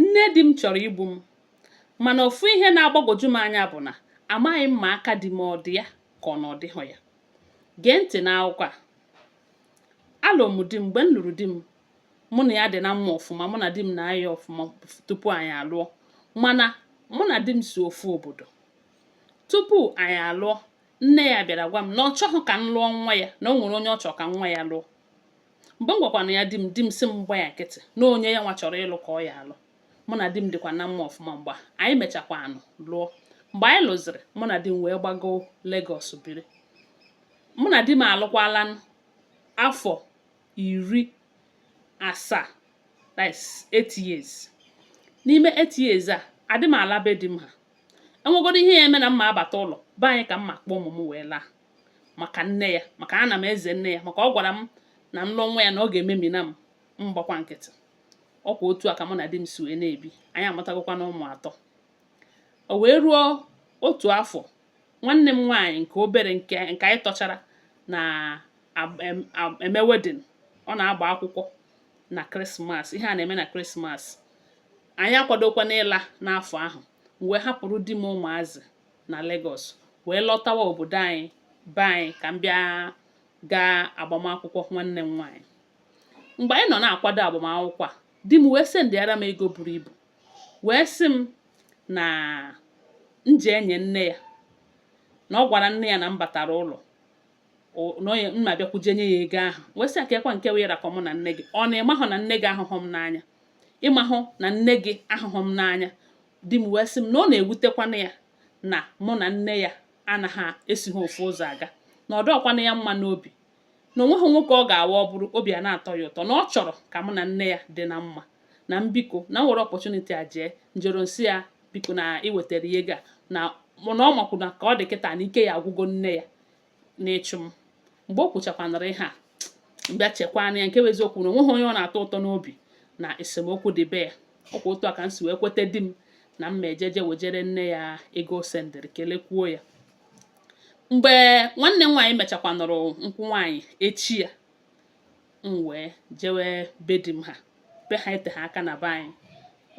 Nne di m chọrọ igbu m mana ofu ihe na-agbagwoju m anya bụ na amaghị m ma aka di m ọ dị ya ka ọ na ọ dịghị ya. Gee ntị n'akụkọ a. Alụrụ m di m, mgbe m lụrụ di m, mụ na ya dị na mma ọfụma, mụ na di m na-ayị ọfụma tupu anyị alụọ mana mụ na di m si ofu obodo. Tupu anyị alụọ, nne ya bịara gwa m na ọ chọghị ka m lụọ nwa ya, na o nwere onye ọ chọrọ ka nwa ya lụọ. mgbe m gwakwanụ ya di m di m sị m gba ya nkịtị na onye ya nwa chọrọ ịlụ ka ọ ya-alụ mụ na di m dịkwa na mma ọfụma mgbe anyị mechakwanụ lụọ mgbe anyị lụziri mụ na di m wee gbagoo Lagos biri mụ na di m alụkwala afọ iri asaa that's eight years n'ime eight years a adị m ala be di m ha e nwegodo ihe ya-eme na m ma-abata ụlọ be anyị ka m ma-akpọ ụmụ m wee laa maka nne ya maka ana m eze nne ya maka ọ gwara m na m lụọ nwa ya na ọ ga-ememina m m gbakwa nkịtị ọkwa otu a ka mụ na di m si wee na-ebi anyị amụtagokwanụ ụmụ atọ o wee ruo otu afọ nwanne m nwaanyị nke obere nke anyị tọchara na-eme wedding ọ na-agba akwụkwọ na krismas ihe a na-eme na krismas anyị akwadokwanụ ịla n'afọ ahụ m wee hapụrụ di m ụmụazị na Lagos wee lọtawa obodo anyị be anyị ka m bịa gaa agbamakwụkwọ nwanne m nwaanyị mgbe anyị nọ na-akwado agbamakwụkwọ a di m wee sendịara m ego buru ibu wee sị m na m jee nye nne ya na ọ gwara nne ya na m batara ụlọ na m bịakwa jee nye ya ego ahụ wee sị ya keekwa nke wee rakọ mụ na nne gị ọ na ị mahụ na nne gị ahụhụ m n'anya ị mahụ na nne gị ahụhụ m n'anya di m wee sị m na ọ na-ewutekwana ya na mụ na nne ya anaghị esi ha ofu ụzọ aga na ọ dọọkwana ya mma n'obi na o nweghị nwoke ọ ga-awụ ọ bụrụ obi a na-atọ ya ụtọ na ọ chọrọ ka mụ na nne ya dị na mma na m biko na m were opportunity a jee m jeruo m sị ya biko na i wetara ya ego a na na ọ makwụ na ka ọ dị kịta na ike ya-agwụgo nne ya n'ịchụ m mgbe o kwuchakwanụrụ ihe a m bịa chekwanụ ya nke bụ eziokwu na o nweghị onye ọ na-atọ ụtọ n'obi na esemokwu dị be ya ọkwa otu a ka m si wee kweta di m na m ma-eje je wejere nne ya ego o sendịrị kelekwuo ya mgbe nwanne m nwaanyị mechakwanụrụ nkwụ nwaanyị echi ya m wee jewe be di m ha be ha eteha aka na be anyị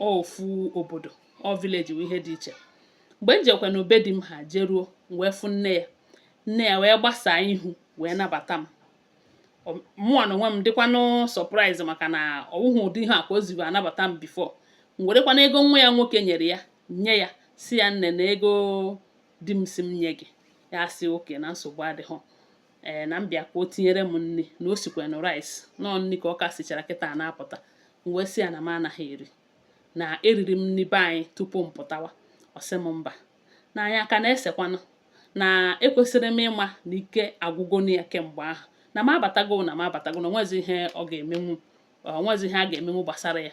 ofu obodo ọ village wụ ihe dị iche mgbe m jekwanụ be di m ha jeruo m wee fụ nne ya nne ya wee gbasaa ihu wee nabata m mụnwa n'onwe m dịkwanụ surprise maka na ọ wụhụ ụdị ihu a ka o jibu anabata m before m werekwanụ ego nwa ya nwoke nyere ya nye ya sị ya nne na ego di m sị m nye gị ya sị okay na nsogbu adịghị ee na m bịa ka o tinyere m nri na o sikwanụ rice na ọ nri ka ọ ka sichara kịta na-apụta m wee sị ya na m anaghị eri na eriri m nri be anyị tupu m pụtawa ọ sị m mba na anyị aka na-esekwanụ na ekwesịrị m ịma na ike agwụgo ya kemgbe ahụ na m abatago na m abatago na o nwezi ihe ọ ga-emenwu o nwezi ihe a ga-emenwu gbasara ya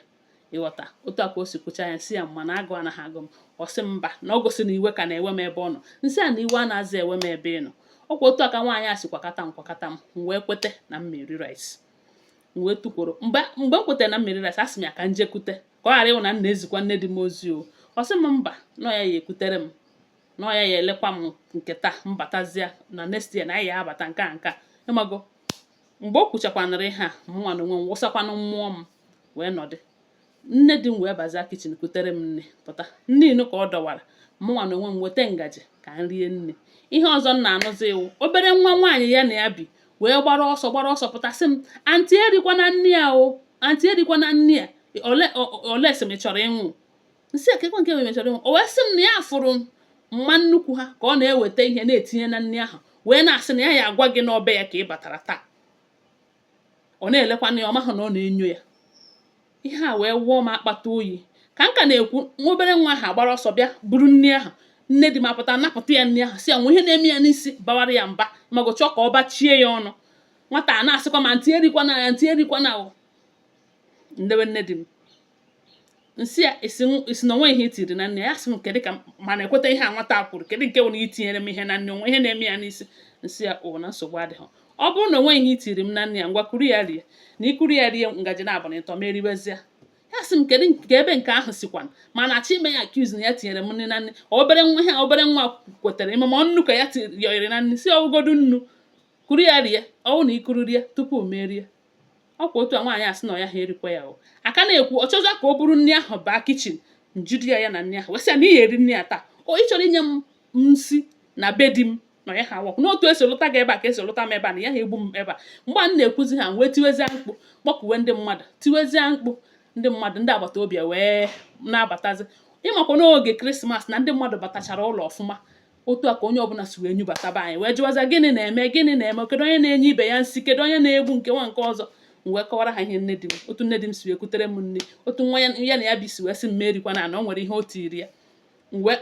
ị ghọta otu a ka o si kwucha ya m sị ya mba na agụụ anaghị agụ m ọ sị m mba na ọ gosi na iwe ka na-ewe m ebe ọ nọ m sị ya na iwe anazị ewe m ebe ị nọ ọ kwa otu a ka nwaanyị a si kwakata m kwakata m m wee kweta na m me-eri rice m wee tukwuru mgbe mgbe m kwetara na m me-eri rice asị m ya ka m jee kute ka ọ ghara ịwụ na m na-ezikwa nne di m ozi o ọ sị m mba na ya ya ekutere m na ya ya elekwa m nke taa m batazie na next year na anyị ya abata nke a nke a ị mago mgbe o kwuchakwanụrụ ihe a mụnwa na onwe m wụsakwanụ mmụọ m wee nọdụ nne di m wee bazịa kitchen kutere m nri pụta nri nụ ka ọ dọwara mụnwa na onwe m weta ngaji ka m rie nri ihe ọzọ m na-anụzi wụ obere nwa nwaanyị ya na ya bi wee gbara ọsọ gbara ọsọ pụta sị m aunty erikwana nri a o aunty erikwana nri a o unless m chọrọ ịnwụ m sị ya keekwa nke m chọrọ ịnwụ o wee sị m na ya fụrụ mama nnukwu ha ka ọ na-eweta ihe na-etinye na nri ahụ wee na-asị na ya ya agwa gị na ọ be ya ka ị batara taa ọ na-elekwanụ ya ọ mahụ na ọ na-enyo ya ihe a wee wụọ m akpata oyi ka m ka na-ekwu nwa obere nwa ahụ agbara ọsọ bịa buru nri ahụ nne di m apụta napụta ya nri ahụ sị ya o nwe ihe na-eme ya n'isi bawara ya mba ị mago chọọ ka ọ bachie ya ọnụ nwata a na-asịkwa m aunty erikwana ya aunty erikwana o m lewe nne di m m sị ya a sị na o nwe ihe i tiri na nri ya sị m kedụ ka m na-ekweta ihe a nwata kwuru kedụ nke wụ na e tinyere m ihe na nri o nwe ihe na-eme ya n'isi m sị ya o na nsogbu adịghị ọ bụrụ na o nwe ihe i tiri m na nri a ngwa kuru ya rie na i kuru ya rie ngaji naabụ na ịtọ m eribezie ya sị m kedụ nke ebe nke ahụ sikwa m na-achọ ime ya accuse na ya tinyere m ihe na nri obere nwa ihe obere nwa kwetara ị ma ma nnu ka ya yọnyere na nri m sị ọ wụgodu nnu kuru ya rie ọ wụ na i kuru rie tupu m erie ọ kwa otu a nwaanyị a sị na ọ yaha erikwa ya o a ka na-ekwu ọ chọọ ka o buru nri ahụ baa kitchen m jide ya ya na nri ahụ wee sị ya na ị ya-eri nri a taa o ị chọrọ inye m nsi na be di m na ọ yaha work na otu e si lụta gị ebe a ka e si lụta m ebe a na ị yaha egbu m ebe a mgbe m na-ekwuzi ihe a wee tiwezie mkpu kpọkuwe ndị mmadụ tiwezie mkpu ndị mmadụ ndị agbata obi wee na-abatazi ị makwa n'oge christmas na ndị mmadụ batachara ụlọ ọfụma otu a ka onye ọbụla si wee nyubata be anyị wee jụwazịa gịnị na-eme gịnị na-eme kedu onye na-enye ibe ya nsi kedu onye na-egbu nke nwa nke ọzọ m wee kọwara ha ihe nne di m otu nne di m si wee kutere m nri otu nwa ya na ya bi si wee sị m mụ erikwana o nwere ihe o tiri ya mgbe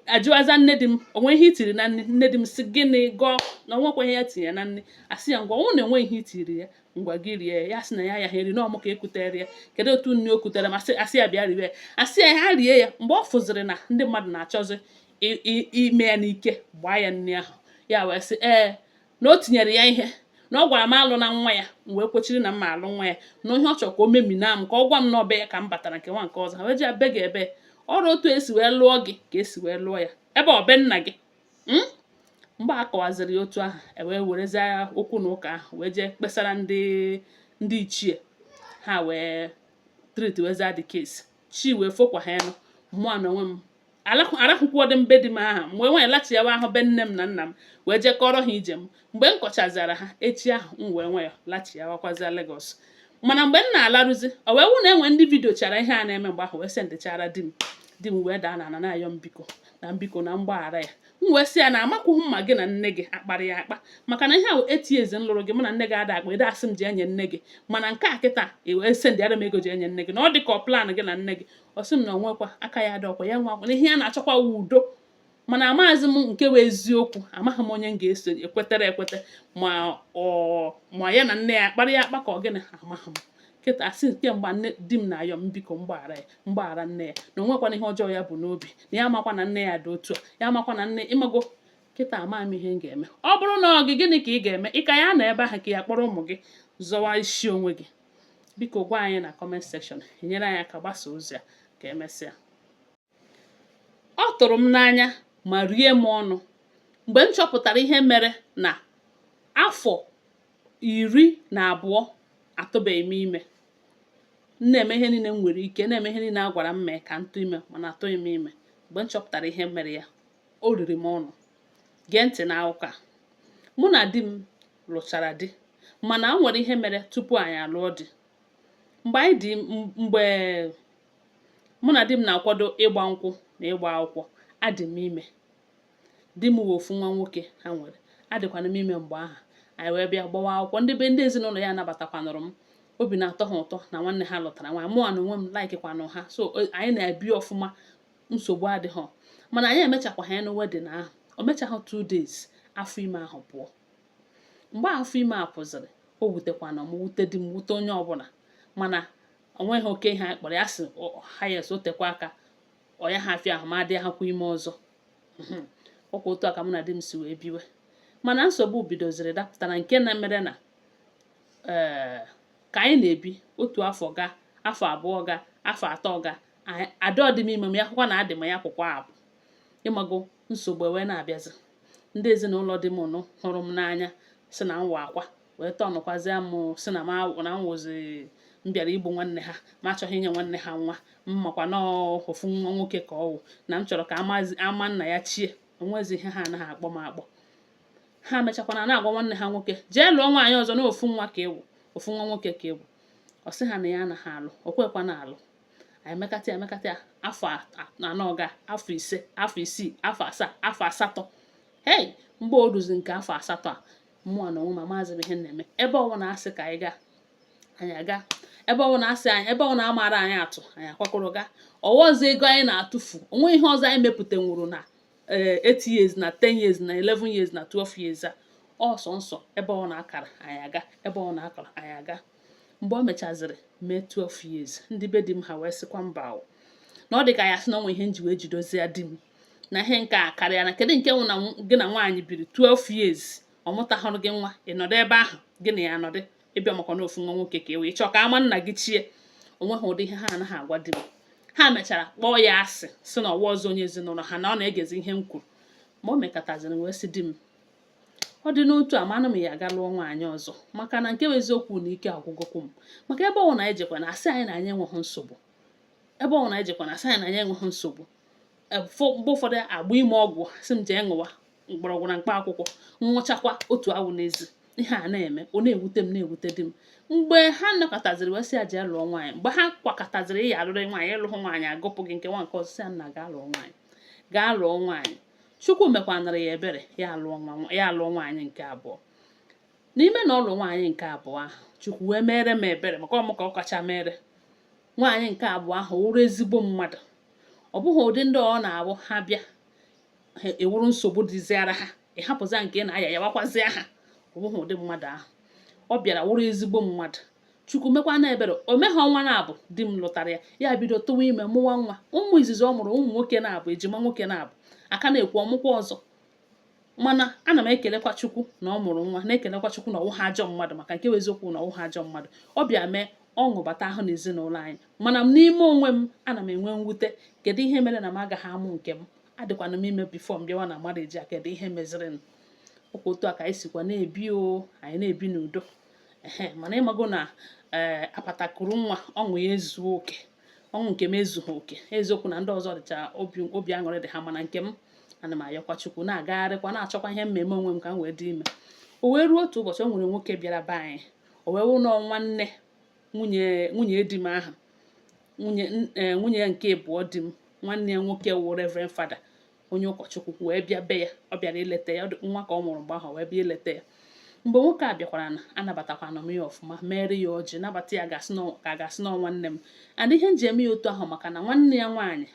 a jụwazịa nne di m o nwe ihe i tiri na nri nne di m sị gịnị gọọ na o nwekwa ihe ya tinye na nri a sị ya ngwa ọ wụ na o nwe ihe i tiri ya ngwa gị rie ya sị na ya yaha eri na ọ mụ ka e kutere ya kedu otu nri o kutere m a sị ya bịa riwe ya ọ sị ya yaha eri ya mgbe ọ fụziri na ndị mmadụ na-achọzi ime ya n'ike gbaa ya nri ahụ ya wee sị ee na o tinyere ya ihe na ọ gwara m alụna nwa ya m wee kwechiri na m ma-alụ nwa ya na ihe ọ chọrọ ka o memina m ka ọ gwa m na ọ be ya ka m batara nke nwa nke ọzọ ha wee ji abe gị ebe ọrụ otu esi wee lụọ gị ka esi wee lụọ ya ebe ọ be nna gị hmm? mgbe a kọwaziri ya otu ahụ ewee werezie okwu na ụka ahụ wee jee kpesara ndị ndị ichie ha wee tritweza the case chi wee fokwa ha nụ mụa na onwe m arahụkwuodị m be di m aha m wee nwee lachiawa ahụ be nne m na nna m wee jee kọrọ ha ije m mgbe m kọchazara ha echi ahụ m wee nwee lachiawakwazia Lagos mana mgbe m na-alarụzi o wee wụ na enwe ndị vidiochara ihe a na-eme mgbe ahụ wee sendịchara di m di m wee daa na ana na-ayọ m biko na m biko na m gbaghara ya m wee sị ya na amakwụghị m ma gị na nne gị akpara ya akpa maka na ihe ahụ eti eze m lụrụ gị mụ na nne gị ada akpa ede asị m jee nye nne gị mana nke a kịta e wee sendịara m ego jee nye nne gị na ọ dị ka ọ plan gị na nne gị ọ sị m na onwekwa aka ya dị ọkwa ya nwa na ihe ya na-achọkwa wụ udo mana amaghịzi m nke wụ eziokwu amaghị m onye m ga-eso ekwetere ekweta ma ọ ma ya na nne ya kpara ya akpa ka ọ gịnị amaghị m kịta asị kemgbe nne di m na-ayọ m biko m gbaghara ya m gbaghara nne ya na onwekwana ihe ọjọọ ya bu n'obi na ya amakwa na nne ya dị otu a ya amakwa na nne ịmago kịta ama m ihe m ga-eme ọ bụrụ na ọ gị gịnị ka ị ga-eme ị ka ya-anọ ebe ahụ ka ị ya-akpọrọ ụmụ gị zọwa isi onwe gị biko gwa anyị na comment section i nyere anyị aka gbasa ozi a ka emesịa ọ tụrụ m n'anya ma rie m ọnụ mgbe m chọpụtara ihe mere na afọ iri na abụọ atụbeghị m ime m na-eme ihe niile m nwere ike na-eme ihe niile a gwara m mee ka m tụ ime mana atụghị m ime mgbe m chọpụtara ihe mere ya o riri m ọnụ gee ntị n'akụkọ a mụ na di m lụchara di mana o nwere ihe mere tupu anyị alụọ di mgbe anyị dị mgbe mụ na di m na-akwado ịgba nkwụ na ịgba akwụkwọ adị m ime di m wụ ofu nwa nwoke ha nwere adịkwanụ m ime mgbe ahụ anyị wee bịa gbawa akwụkwọ ndị be ndị ezinụlọ ya anabatakwanụrụ m obi na-atọ ha ụtọ na nwanne ha lụtara nwaanyị mụa na onwe m laikikwanụ ha so anyị na-ebi ọfụma nsogbu adịghị mana anyị emechakwa ha nụ wedding ahụ o mechaghị two days afọ ime ahụ pụọ mgbe afọ ime a pụziri o wutekwanụ m wute di m wute onye ọbụla mana onweghị oke ihe anyị kpọrọ ya sị ha ya o tekwa aka ọ ya ha afịa ahụ m adịhakwa ime ọzọ hmm. ọkwa otu a ka mụ na di m si wee biwe mana nsogbu bidoziri dapụtara nke na mere na ee eh, ka anyị na-ebi otu afọ gaa afọ abụọ gaa afọ atọ gaa ada adị m ime m ya-ahụkwa na adị m ya akwụkwa apụ ịmago nsogbu ewee na-abịazi ndị ezinụlọ di m nụ hụrụ m n'anya si na nwa akwa wee tọnụkwazịa m sị na na m wụzi m bịara igbu nwanne ha m achọghị inye nwanne ha nwa m makwa na ofu nwa nwoke ka ọ wụ na m chọrọ ka ama nna ya chie o nwezi ihe ha anaghị akpọ m akpọ ha mechakwana na-agwa nwanne ha nwoke jee lụọ nwaanyị ọzọ na ofu nwa ka ị wụ ofu nwa nwoke ka ị wụ ọ sị ha na ya anaghị alụ o kwekwa na alụ anyị mekata ya mekata ya afọ anọ gaa afọ ise afọ isii afọ asaa afọ asatọ hei mgbe o ruzi nke afọ asatọ a mụwa na onwe m amazị ihe na-eme ebe ọwụna a sị ka anyị gaa anyị aga ebe ọwụna a sị anyị ebe ọwụna a mara anyị atụ anyị akwakọrọ gaa ọ wụzi ego anyị na-atụfu o nwe ihe ọzọ anyị mepụtanwuru na 8 eh, years na 10 years na 11 years na 12 years a ọsọ nsọ ebe ọwụna a kara anyị aga ebe ọwụna a kara anyị aga mgbe o mechaziri mee 12 years ndị be di m ha wee sịkwa mba o na ọ dị ka ya sị na o nwe ihe m ji wee jidozie di m na ihe nke a karịa na kedu nke wụ na gị na nwaanyị biri 12 years ọ mụtahụrụ gị nwa ị nọdụ ebe ahụ gị na ya nọdụ ị bịa makwa na ofu nwa nwoke ka ị wụ ị chọọ ka ama nna gị chie o nweghị ụdị ihe ha anaghị agwa di m ha mechara kpọọ ya asị sị na ọ wụhazị onye ezinụlọ ha na ọ na-egezi ihe m kwuru mgbe o mekataziri wee sị di m ọ dị n'otu a manụ m ya gaa lụọ nwaanyị ọzọ maka na nke bụ eziokwu na ike agwụgokwu m maka ebe ọwụna anyị jekwa na asị anyị na anyị enweghị nsogbu ebe ọwụna anyị jekwa na asị anyị na anyị enweghị nsogbu e, mgbe ụfọdụ agbanye m ọgwụ sị m jee ṅụwa mgbọrọgwụ na mkpa akwụkwọ m ṅụchakwa otu awụ n'ezi ihe a na-eme ọ na-ewute m na-ewute di m mgbe ha nọkọtaziri wee sị ya jee lụọ nwaanyị mgbe ha kwakọtaziri ị ya-alụrị nwaanyị ị lụhụ nwaanyị agụpụ gị nke nwa nke ọzọ sị ya nna gaa lụọ nwaanyị gaa lụọ nwaanyị chukwu mekwanara ya ebere ya alụọ nwaanyị nke abụọ n'ime na ọ lụ nwaanyị nke abụọ ahụ chukwu wee mere m ebere maka ọ mụ ka ọ kacha meere nwaanyị nke abụọ ahụ wụrụ ezigbo mmadụ ọ bụghị ụdị ndị ọ na-abụ ha bịa ha ewuru nsogbu dịziara ha ị hapụzịa nke na-aya yawakwazịa ha ọ bụghị ụdị mmadụ ahụ ọ bịara wụrụ ezigbo mmadụ chukwu mekwana ebere o meghị ọnwa naabọ di m lụtara ya ya bido tụwa ime mụwa nwa ụmụ izizi ọ mụrụ ụmụ nwoke naabọ ejima nwoke naabọ a ka na-ekwu ọ mụkwa ọzọ mana ana m ekelekwa chukwu na ọ mụrụ nwa na-ekelekwa chukwu na ọ wụha ajọ mmadụ maka nke eziokwu na ọ wụha ajọ mmadụ ọ bịa mee ọṅụ bata ahụ n'ezinụlọ anyị mana m n'ime onwe m ana m enwe mwute kedu ihe mere na m agaghị amụ nke m adịkwana m ime before m bịawa na marriage a kedu ihe mezirinụ ọkwa otu a ka anyị sikwa na-ebi o anyị na-ebi n'udo mana ị mago na ee eh, apatakuru nwa ọṅụ ya ezuo oke ọṅụ nke m ezughị oke eziokwu na ndị ọzọ dịcha obi aṅụrị dị ha mana nke m ana m ayọkwa chukwu na-agagharịkwa na-achọkwa ihe m me-eme onwe m ka m wee dị ime o wee ruo otu ụbọchị o nwere nwoke bịara be anyị o wee wụ nnọọ nwanne nwunye nwunye di m ahụ nwunye eh, nwunye nke ịbụọ di m nwanne ya nwoke wụ reverend father onye ụkọchukwu wee bịa be ya ọ bịara ileta ya nwa ka ọ mụrụ mgbe ahụ wee bịa ileta ya mgbe nwoke a bịakwara na anabatakwana m ya ọfụma mere ya ọjị nabata ya ka a ga-asị na nwanne m and ihe nji eme ya otu ahụ maka na nwanne ya nwaanyị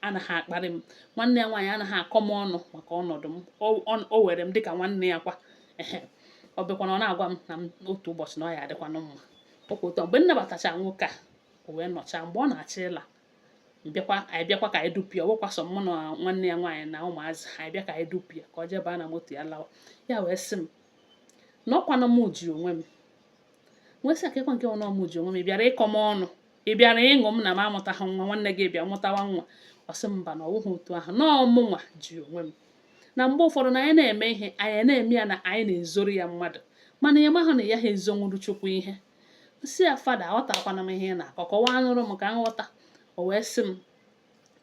anaghị akparị m nwanne ya nwaanyị anaghị akọ m ọnụ maka ọnọdụ m o were m dịka nwanne ya kwa ehe ọ bịakwana ọ na-agwa m na otu ụbọchị na ọ ya adịkwanụ mma okwu ụtọ mgbe m nabatachara nwoke a o wee nọchaa mgbe ọ na-achọ ịla bịakwa anyị bịakwa ka anyị dupụ ya ọ wụkwa sọ mụ na nwanne ya nwaanyị na ụmụazị anyị bịa ka anyị dupụ ya ka ọ jee baa na moto ya lawa ya wee sị m na ọkwanụ m ji onwe m m wee sị ya kekwa nke wụ na m ji onwe m ị bịara ịkọ m ọnụ ị bịara ịṅụ m na m amụtaghị nwa nwanne gị bịa mụtawa nwa ọ sị mba na ọ wụghị otu ahụ na ọ mụnwa ji onwe m na mgbe ụfọdụ na anyị na-eme ihe anyị na-eme ya na anyị na-ezoro ya mmadụ mana anyị amahụ na a yaha ezonwuru chukwu ihe sị ya fada aghọtakwanụ m ihe ị na-akọ kọwaanụrụ m ka m ghọta o wee sị m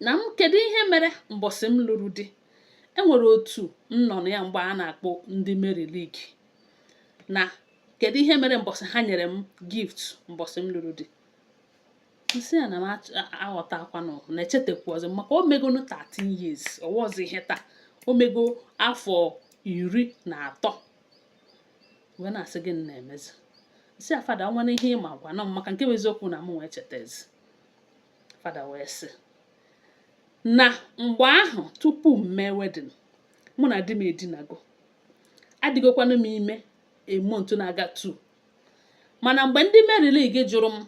na m kedu ihe mere mbọsị m lụrụ di enwere otu m nọ na ya mgbe a na-akpọ ndị Mary League na kedu ihe mere mbọsị ha nyere m gift mbọsị m lụrụ di nsị ya na m aghọtakwanụ na echetakwozi maka o megonụ 13 years ọ wọzi ihe taa o mego afọ iri na atọ wee na-asị gịnị na-emezi sị ya fada o nwere ihe ị ma gwanụ m maka nke wụ eziokwu na mụnwa echetazi fada wee sị na mgbe ahụ tupu m mee wedding mụ na di m edinago adịgokwanụ m ime a month na-aga two mana mgbe ndị Mary League jụrụ m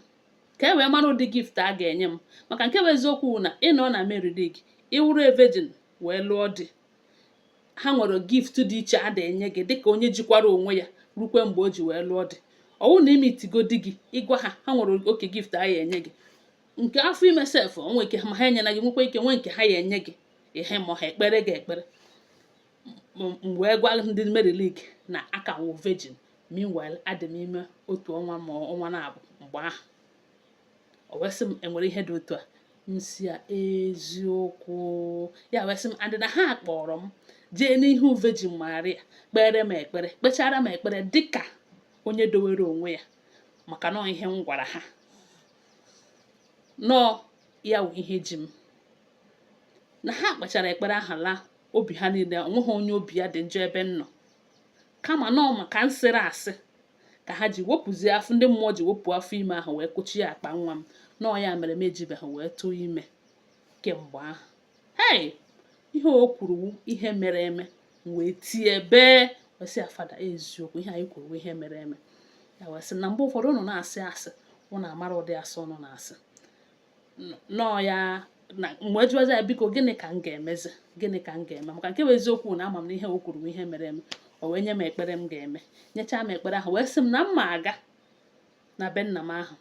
ka e wee mara ụdị gift a ga-enye m maka nke wụ eziokwu na ị nọ na Mary League ị wụrụ a virgin wee lụọ di ha nwere gift dị iche a na-enye gị dịka onye jikwara onwe ya rukwe mgbe o ji wee lụọ di ọ wụ na i meetigo di gị ị gwa ha ha nwere oke gift a ya enye gị nke afọ ime sef o nwee ike ma ha enyela gị nwekwa ike nwee nke ha ya enye gị ihe ma ha ekpere gị ekpere m wee gwa ndị Mary League na aka wụ virgin meanwhile adị m ime otu ọnwa ma ọnwa naabọ mgbe ahụ o wee sị m enwere ihe dị otu a nsị ya eziokwu ya wee sị m and na ha kpọrọ m jee n'ihu Virgin Maria kpere m ekpere kpechara m ekpere dịka onye dowere onwe ya maka na ọ ihe m gwara ha na ọ ya wụ ihe ji m na ha kpechara ekpere ahụ laa obi ha niile onweghị onye obi ya dị njọ ebe m nọ kama na ọ maka nsịrị asị ka ha ji wepụzie afọ ndị mmụọ ji wepụ afọ ime ahụ wee kụchie akpa nwa m na ọ ya mere m ejibeghị wee tụọ ime kemgbe ahụ hei ihe o kwuru wụ ihe mere eme m wee tie bee wee sị ya fada eziokwu ihe ị kwuru wụ ihe mere eme ya wee sị na mgbe ụfọdụ ụnụ na-asị asị ụnụ amara ụdị asị ụnụ na-asị nọọ ya m wee jụwazi ya biko gịnị ka m ga-emezi gịnị ka m ga-eme maka nke bụ eziokwu na ama m na ihe o kwuru ihe mere m o wee nye m ekpere m ga-eme nyechaa m ekpere ahụ wee sị m na m ma aga na be nna m ahụ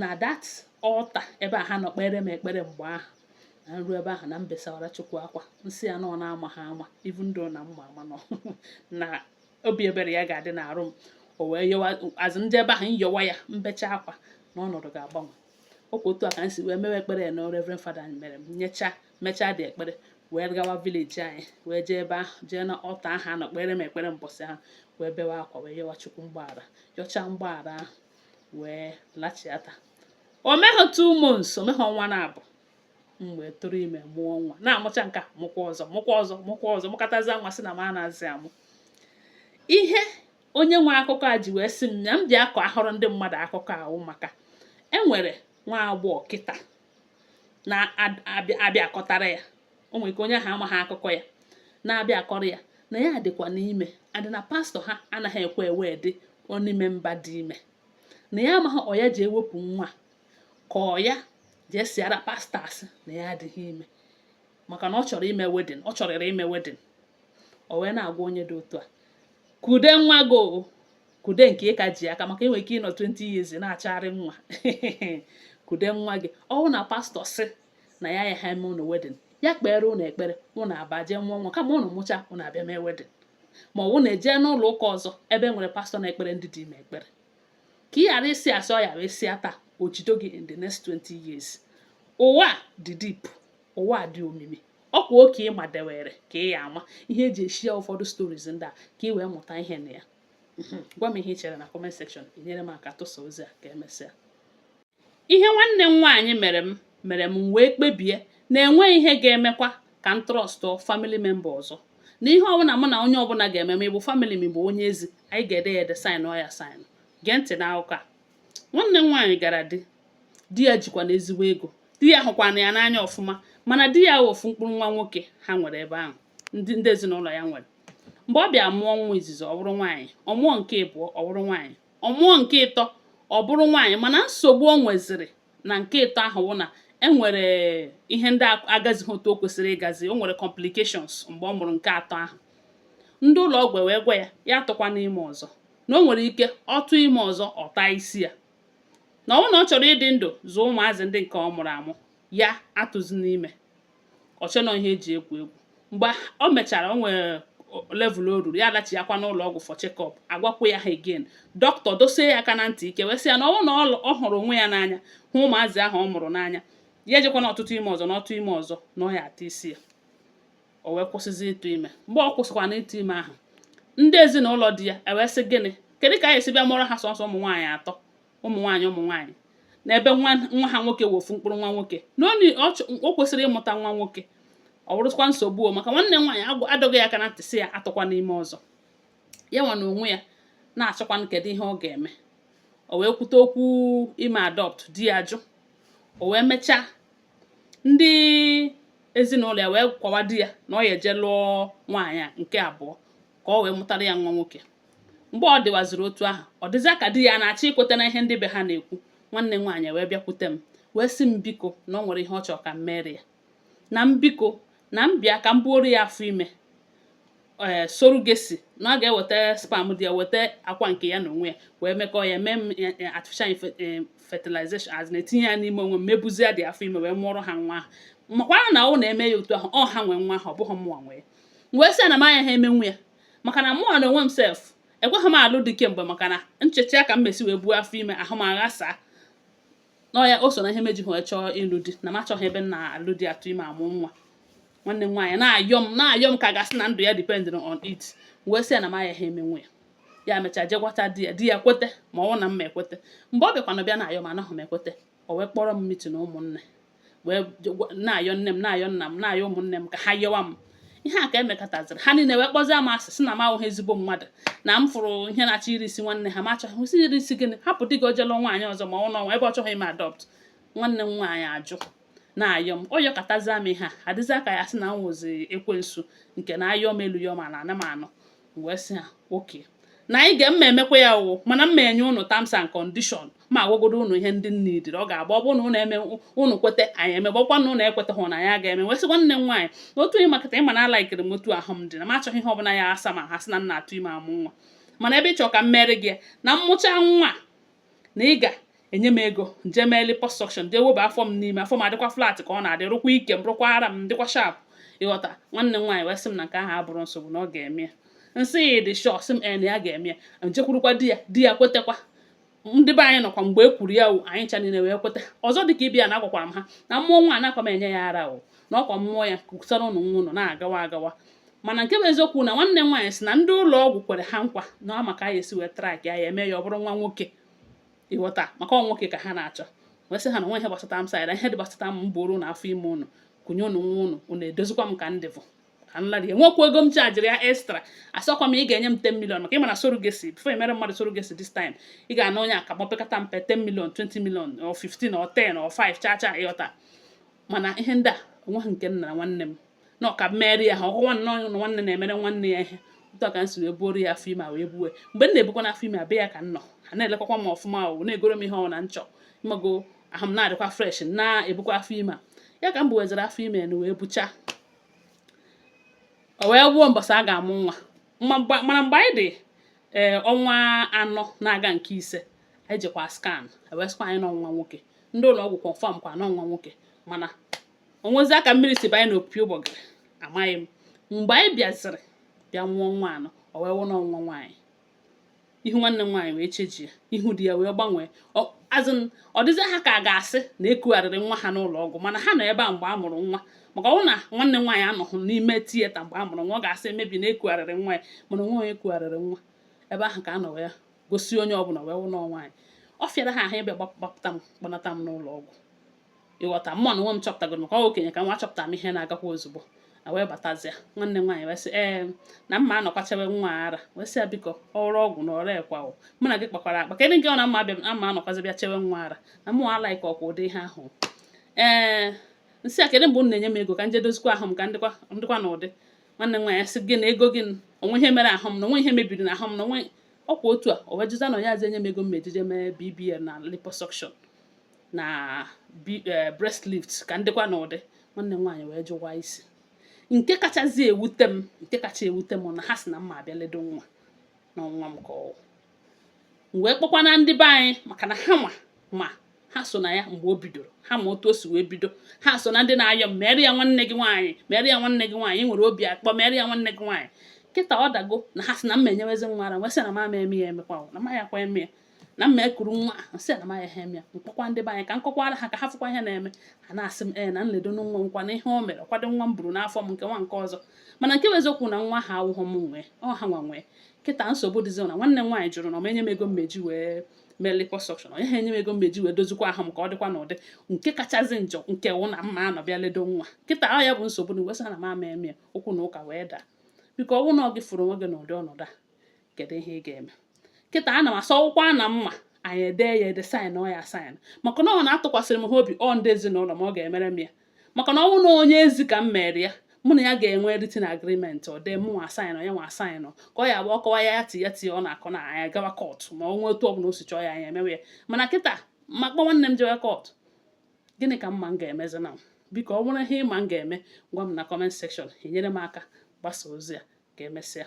na that altar ebe a ha nọ kpere m ekpere mgbe ahụ na m ru ebe ahụ na m besawara chukwu akwa m sị ya na ọ n'amaghị ama even though na m ma ama nọ na obi ebere ya ga-adị n'arụ m o wee yọwa azụ ndị ebe ahụ m yọwa ya m becha akwa na ọnọdụ ga-agbanwe ọkwa otu a ka m si wee mewe ekpere na Reverend Fada mere m mechaa the ekpere wee gawa village anyị wee jee ebe ahụ jee na altar ahụ a nọ kpere m ekpere mbọsị ahụ wee bewe akwa wee yọwa chukwu mgbaghara yọchaa mgbaghara ahụ wee lachiata o meghị two months o meghị ọnwa naabọ m wee tụrụ ime mụọ nwa na-amụcha nke a mụkwa ọzọ mụkwa ọzọ mụkwa ọzọ mụkatazi nwa sị na m anazi amụ ihe onye nwe akụkọ a ji wee sị m na m bịa kọwaara ndị mmadụ akụkọ ahụ maka e nwere nwa agbọghọ kịta na-abịa akọtara ya o nwere ike onye ahụ amaghị akụkọ ya na-abịa akọrọ ya na ya dịkwanụ ime adị na pastor ha anaghị ekwe ewed onye ọbụla dị ime na ya amaghị ọ ya jee wepụ nwa ka ọ ya jee sịara pastor asị na ya adịghị ime maka na ọ chọrọ ime wedding ọ chọrịrị ime wedding o wee na-agwa onye dị otu a kude nwa gị o kude nke ị ka ji aka maka i nwere ike ịnọ 20 years na-achọgharị nwa kude nwa gị ọ wụ na pastor sị na ya ayaghị eme ụnụ wedding ya kpere ụnụ ekpere ụnụ aba jee mụọ nwa ka ma ụnụ mụcha ụnụ abịa mee wedding ma ọ wụ ụnụ eje n'ụlọ ụka ọzọ ebe e nwere pastor na-ekpere ndị dị ime ekpere ka ị ghara ịsị asị ọ ya wee sịa taa o jido gị in the next 20 years ụwa dị deep ụwa dị omimi ọkwa oke ịma dewere ka ị ya ama ihe e ji e-share ụfọdụ stories ndị a ka ị wee mụta ihe na ya mhm. gwa m ihe ị chere na comment section i nyere m aka tụsa ozi a ka emesịa ihe nwanne m nwaanyị mere m mere m wee kpebie na enweghị ihe ga-emekwa ka m trustụọ family member ọzọ na ihe ọbụla mụ na onye ọbụla ga-eme ma ị bụ family ma ị bụ onye ezi anyị ga-ede ya ede signụọ ya sign gee ntị n'akụkọ a nwanne m nwaanyị gara di di ya jikwana ezigbo ego di ya hụkwana ya n'anya ọfụma mana di ya wụ ofu mkpụrụ nwa nwoke ha nwere ebe ahụ ndị ezinụlọ ya nwere mgbe ọ bịa mụọ nwa izizi ọ bụrụ nwaanyị ọ mụọ nke ịbụọ ọ bụrụ nwaanyị ọ mụọ nke ịtọ ọ bụrụ nwaanyị mana nsogbu o nweziri na nke ịtọ ahụ wụ na e nwere ihe ndị agazighị otu o kwesịrị ịgazi o nwere complications mgbe ọ mụrụ nke atọ ahụ ndị ụlọ ọgwụ wee gwa ya ya atụkwana ime ọzọ na o nwere ike ọ tụọ ime ọzọ ọ taa isi ya na ọ na ọ chọrọ ịdị ndụ zụọ ụmụazị ndị nke ọ mụrụ amụ ya atụzina ime o chee na ọ ihe eji egwu egwu mgbe o mechara o nwere level o ruru ya alachiakwa n'ụlọ ọgwụ for check-up agwakwa ya again dọkịta dosie ya aka na ntị ike wee sị ya na ọ na ọ hụrụ onwe ya n'anya hụ ụmụazị ahụ ọ mụrụ n'anya ya ejekwana ọtụtụ ime ọzọ na ọ tụọ ime ọzọ na ọ ya ata isi ya o wee kwụsịzi ịtụ ime mgbe ọ kwụsịkwanụ ịtụ ime ahụ ndị ezinụlọ di ya ewee sị gịnị kedu ka ọ ya esi bịa mụọrọ ha sọsọ ụmụ nwaanyị atọ ụmụ nwaanyị ụmụ nwaanyị na ebe nwa ha nwoke wụ ofu mkpụrụ nwa nwoke na o kwesịrị ịmụta nwa nwoke ọ bụrụkwa nsogbu maka nwanne m nwaanyị adọgo ya aka na ntị sị ya atụkwana ime ọzọ ya nwa na onwe ya na-achọkwanụ kedu ihe ọ ga-eme o wee kwute okwu ime adopt di ya jụ o wee mechaa ndị ezinụlọ ya wee kwawa di ya na ọ ya eje lụọ nwaanyị nke abụọ ka o wee mụtara ya nwa nwoke mgbe ọ dịwaziri otu ahụ ọ dịzịa ka di ya na-achọ ikweta na ihe ndị be ha na-ekwu nwanne m nwaanyị wee bịakwute m wee sị m biko na o nwere ihe ọ chọrọ ka m mere ya na m biko na m bịa ka m buoro ya afọ ime ee eh, surrogacy na ọ ga-eweta sperm di ya weta akwa nke ya na onwe ya wee mekọọ ya mee eh, eh, artificial fertilization etinye ya n'ime onwe m m ebuzia the afọ ime wee mụọrọ ha nwa ahụ makwanụ na ọ na emee ya otu ahụ ọ ha nwe nwa ahụ ọ bụghị mụnwa nwe wee sị ya na m ayaha emenwu ya maka na mụnwa na onwe m sef ekweghị m alụ di kemgbe maka na m chechaa ka m ma-esi wee buo afọ ime ahụ m aghasaa nọ ya o so na ihe m ejiha achọ ịlụ di na m achọghị ebe m na-alụ di atụ ime amụ nwa nwanne m nwaanyị na-ayọ m na-ayọ m ka a ga-asị na ndụ ya dependịrị on it wee sị ya na m ayaha emenwu ya ya mechaa jee gwata di ya di ya kwete ma ọ na m ma ekwete mgbe ọ bịakwanụ bịa na-ayọ m anaghị m ekwete o wee kpọrọ m meeting ụmụnne wee na-ayọ nne m na-ayọ nna m na-ayọ ụmụnne m ka ha yọwa m ihe a ka mekataziri ha niile wee kpọzie m asị sị na m awụghị ezigbo mmadụ na m fụrụ ihe na-achọ iri isi nwanne ha ma achọghị m sị iri isi gịnị hapụ di gị o jee lụọ nwaanyị ọzọ mụọ nwa ebe ọ chọghị ime adopt nwanne m nwaanyị ajụ na-ayọ m ọ yọkatazia m ihe a adịzia ka a ya-asị na m wụzi ekwensu nke na ayọọ m elu yọọ m ala anaghị m anụ wee sị ha okay na anyị ga m ma emekwa ya o mana m ma enye ụnụ terms and condition m agwagodo ụnụ ihe ndị na ụdịrị ọ ga-agba ọ bụrụ na ụnụ eme ụnụ kweta anyị emebe ọkwa na ụnụ ekwetahụ na ya ga-eme wee sị nwanne m nwaanyị na otu ihe makata ịma na alaikiri m otu ahụ m dị na m achọghị ihe ọbụla ya asa m ahụ sị na m na-atụ ime amụ nwa mana ebe ị chọrọ ka m mere gị na m mụchaa nwa na ị ga-enye m ego m jee mee liposuction jee weba afọ m n'ime afọ m adịkwa flat ka ọ na-adị rụkwa ike m rụkwa ara m dịkwa sharp ị ghọta nwanne m nwaanyị wee sị m na nke ahụ abụrọ nsogbu na ọ ga-eme ya m sị ya ị dị sure ọ sị m ee na ya ga-eme ya m jekwurukwa di ya di ya kwetakwa ndị be anyị nọkwa mgbe e kwuru ya anyị ncha niile wee kweta ọzọ dị ka ibe ya na agwakwara m ha na m mụọ nwa anakwa m enye ya ara o na ọkwa m mụọ ya kusara ụnụ nwa ụnụ na-agawa agawa mana nke bụ eziokwu na nwanne m nwaanyị si na ndị ụlọ ọgwụ kwere ha nkwa na ọ ma ka ya esi wee track ya ya eme ya ọ bụrụ nwa nwoke ịghọta maka ọ nwoke ka ha na-achọ wee sị ha na nwa ihe gbasata m saịda ihe dị gbasata m bụrụ na afọ ime ụnụ kunye ụnụ nwa ụnụ ụnụ edozikwa m ka m dịbu ka m lara enwekwa ego m chajiri ya extra asọkwa m ị ga-enye m 10 million maka ị ma na surrogacy before emere mmadụ surrogacy this time ị ga-ana onye akamọ pekata mpe 10 million 20 million or 15 or 10 or 5 cha cha ịghọta mana ihe ndị a onweghị nke m nara nwanne m na ọ ka m mere ya ha ọkụwa nnọọ na nwanne na-emere nwanne ya ihe otu a ka m si wee buoro ya afọ ime wee buwe mgbe m na-ebukwa n'afọ ime a be ya ka m nọ ha na-elekọkwa m ọfụma o na-egoro m ihe ọ na m chọ ị mago ahụ m na-adịkwa fresh na-ebukwa afọ ime ya ka m buwezara afọ ime m wee bucha o wee ruo mbọsị a ga-amụ nwa mana mgbe anyị dị ee eh, ọnwa anọ na-aga nke ise anyị jekwa scan e wee sịkwa anyị na ọ nwa nwoke ndị ụlọ ọgwụ confirm kwa na ọ nwa nwoke mana onwezi ka mmiri si banye n'opi ụgbọgịrị amaghị m mgbe anyị bịaziri bịa mụọ nwa ahụ o wee wụ na ọ nwa nwaanyị ihu nwanne m nwaanyị wee changie ihu di ya wee gbanwee as in ọ dịzị ha ka a ga-asị na ekugharịrị nwa ha n'ụlọ ọgwụ mana ha nọ ebe a mgbe a mụrụ nwa maka ọ wụ na nwanne nwaanyị anọghị n'ime theatre mgbe a mụrụ nwa ọ ga-asị maybe na ekugharịrị nwa ya mana onwe onye ekugharịrị nwa ebe ahụ ka a nọ wee gosi onye ọbụla wee wụ na ọ nwaanyị ọ fịara ha ahụ e wee gbapụta m kpọnata m n'ụlọ ọgwụ ịghọta mụ na onwe m chọpụtago maka ọ okenye ka m wụ achọpụta m ihe na-agakwa ozugbo m wee batazịa nwanne m nwaanyị wee sị ee na mma anọkwa chewe nwa ara m wee sị ya biko ọrụ ọgwụ na ọrụ ekwa o mụ na gị kpakwara akpa kedụ nke ọ na mma abịa ama anọkwazi bịa chewe nwa ara na mụ alaika ọkwa ụdị ihe ahụ ee nsị ya kedụ mgbe unu na-enye m ego ka nje dozikwa ahụ m ka ndịkwa na ụdị nwanne m nwaanyị sị gị na ego gị onwe ihe mere ahụ m na onwe ihe mebiri na ahụ m na onwe ọkwa otu a o wee jụzịa na ya azị enye m ego m eji je mee BBL na liposuction na eh, breast lift ka ndịkwa na ụdị nwanne m nwaanyị wee jụwa isi nke kachazi ewute m nke kacha ewute m na ha si na mma abịa ledo nwa na nwa m ka ọ wụ m wee kpọkwa na ndị be anyị maka na hawa ma ha so na ya mgbe o bidoro ha ma otu o si wee bido ha so na ndị na-ayọ m mere ya nwanne gị nwaanyị mere ya nwanne gị nwaanyị nwere obi akpọ mere ya nwanne gị nwaanyị kịta ọ dago na ha si na mma enyewezi nwa ara m wee sị na m ama eme ya emekwa na m ayakwa eme ya na mma ekuru nwa nsị na m ayaha eme ya mkpọkwa ndị be anyị ka nkọkwara ha ka ha fụkwa ihe na-eme ha na-asị m ee na nledo nwa nkwa na ihe o mere kwado nwa m buru n'afọ m nke nwa nke ọzọ mana nke bụ eziokwu na nwa ahụ awụghọ m nwe ọ hanwa nwe kịta nsogbu dịzi na nwanne m nwaanyị jụrụ na ọ ma enye m ego m eji wee mee liposuction ọ yaha enye m ego m eji wee dozikwa ahụ m ka ọ dịkwa n'ụdị nke kachasị njọ nke wụ na mma anọ bịa ledo nwa kịta ọ ya bụ nsogbu m wee sị ya na m ama eme ya okwu na ụka wee daa biko ọ bụrụ na ọ gị fụrụ onwe gị n'ụdị ọnọdụ a kedu ihe ị ga-eme kịta ana m asịwukwa na m ma anyị edee ya ede sign ọ ya sign maka na ọ na atụkwasịrị m ha obi ọ ndị ezinụlọ m ọ ga-emere m ya maka na ọ bụrụ na onye ezi ka m mere ya mụ na ya ga-enwe written agreement o dee mụ nwa asaịnụ ya nwa asaịnụ ka ọ ya-abụ ọ kọwa ya ti ya ti ọ na-akọ na anyị agawa kọtụ ma ọ nwee otu ọbụla o si chọọ ya anyị emewe ya mana kịta m akpọ nwanne m jewe kọtụ gịnị ka m ma m ga-emezi na biko ọ nwere ihe ị ma m ga-eme gwa m na comment section i nyere m aka gbasa ozi a ka emesịa